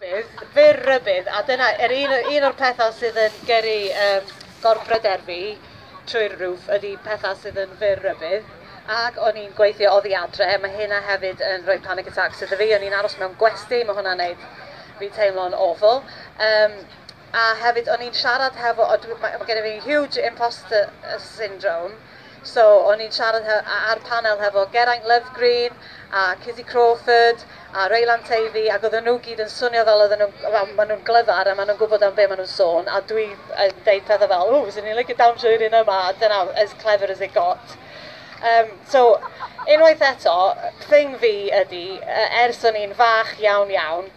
Bydd, fyr rybudd, a dyna yr un, un o'r pethau sydd yn gyrru um, gorbryder fi trwy'r rwf ydy pethau sydd yn fyr rybudd. Ac o'n i'n gweithio oddi adre, mae hynna hefyd yn rhoi panic attacks iddo fi. O'n i'n aros mewn gwesti, mae hwnna'n neud fi teimlo'n awful. Um, A hefyd o'n i'n siarad hefo o dwi ma' ma' gennyf fi huge imposter syndrome so o'n i'n siarad he- a- ar panel hefo Geraint Lovegreen a Cizzy Crawford a Reylan Teifi ac oedden nhw gyd yn swnio fel oedden nhw'n wel maen nhw'n glyfar a maen nhw'n gwybod am be maen nhw'n sôn a dwi yn deud pethau fel ww fyswn i'n licio dawnsio i'r un yma a dyna as clever as it got. Yym so unwaith eto thing fi ydi yy ers o'n i'n fach iawn iawn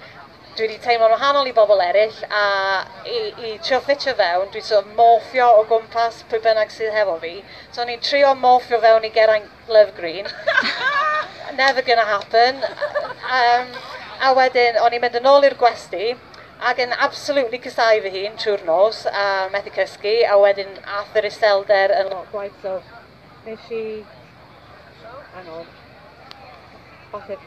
Dwi 'di teimlo'n wahanol i bobl eraill a i i trio ffitio fewn dwi'n sort of morffio o gwmpas pwy bynnag sydd hefo fi. So o'n i'n trio morffio fewn i Geraint Love Green. Never gonna happen. Yym a wedyn o'n i'n mynd yn ôl i'r gwesty ac yn absolutely casáu fy hun trwy'r nos a methu cysgu a wedyn ath yr iselder yn lot gwaeth so Nes i... Hang on. Bosib.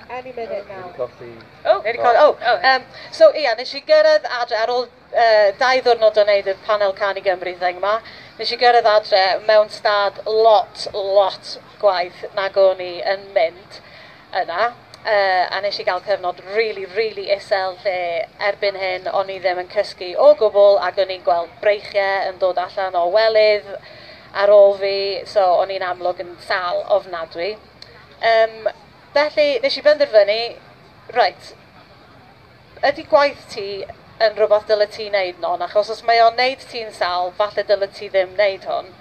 Any minute now. Wedi colli... Oh! Wedi colli... Oh! oh yeah. um, so, ia, yeah, nes i gyrraedd adre ar ôl uh, dau ddwrnod o wneud y panel can i Gymru thing yma. Nes i gyrraedd adre mewn stad lot, lot gwaith nag o'n i yn mynd. yna a nes i gael cyfnod rili rili isel lle erbyn hyn o'n i ddim yn cysgu o gwbl ac o'n i'n gweld breichiau yn dod allan o welydd ar ôl fi so o'n i'n amlwg yn sâl ofnadwy yym felly nes i benderfynu reit Ydy gwaith ti yn rhywbeth dyle ti wneud non achos os mae o'n wneud ti'n sal falle dyle ti ddim wneud hwn.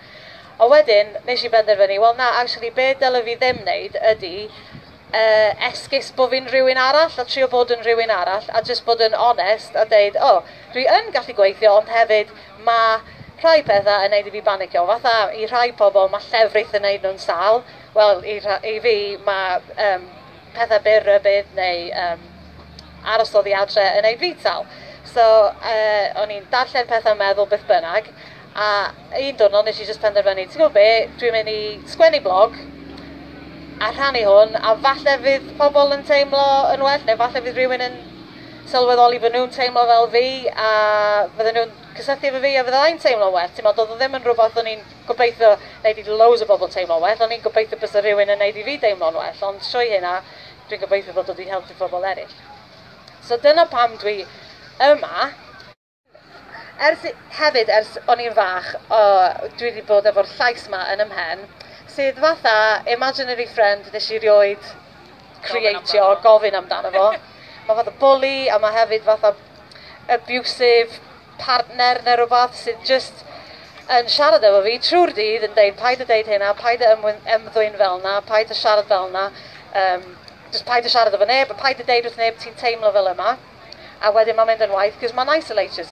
A wedyn nes i benderfynu wel na actually be dyle fi ddim wneud ydy yy esgus bo fi'n rhywun arall a trio bod yn rhywun arall a jyst bod yn onest a deud o dwi yn gallu gweithio ond hefyd ma' rhai petha yn wneud i fi banicio fatha i rhai pobl ma' llefrith yn wneud nhw'n sal wel i rha- i fi ma' yym pethau byr rybudd neu um, aros oddi adre yn ei frital. So, uh, o'n i'n darllen pethau meddwl beth bynnag, a un diwrnod nes i jyst penderfynu, ti'n gwybod be, dwi'n mynd i sgwennu blog, a rhannu hwn, a falle fydd pobl yn teimlo yn well, neu falle fydd rhywun yn sylweddoli fod nhw'n teimlo fel fi, a fydden nhw'n cysylltu efo fi a fydda i'n teimlo well. Ti'n meddwl, oedd o ddim yn rhywbeth o'n i'n Gobeithio neith i loads o bobl teimlo'n well, o'n i'n gobeithio bysa rhywun yn neud i fi deimlo'n well, ond trwy hynna dwi'n gobeithio fod o 'di helpu pobl eryll. So dyna pam dwi yma. Ers, hefyd ers o'n i'n fach dwi 'di bod efo'r llais 'ma yn 'y mhen, sydd fatha imaginary friend nes i 'rioed creatio, gofyn amdano fo. Ma' fatha bwli a ma' hefyd fatha abusive. partner neu rywbeth sydd jyst yn siarad efo fi trwy'r dydd yn deud paid â deud hyn a paid â ymddwyn fel 'na, paid â siarad fel 'na, um, just paid â siarad efo neb a paid â deud wrth neb ti'n teimlo fel yma. A wedyn mae'n mynd yn waeth, cos mae'n isolated.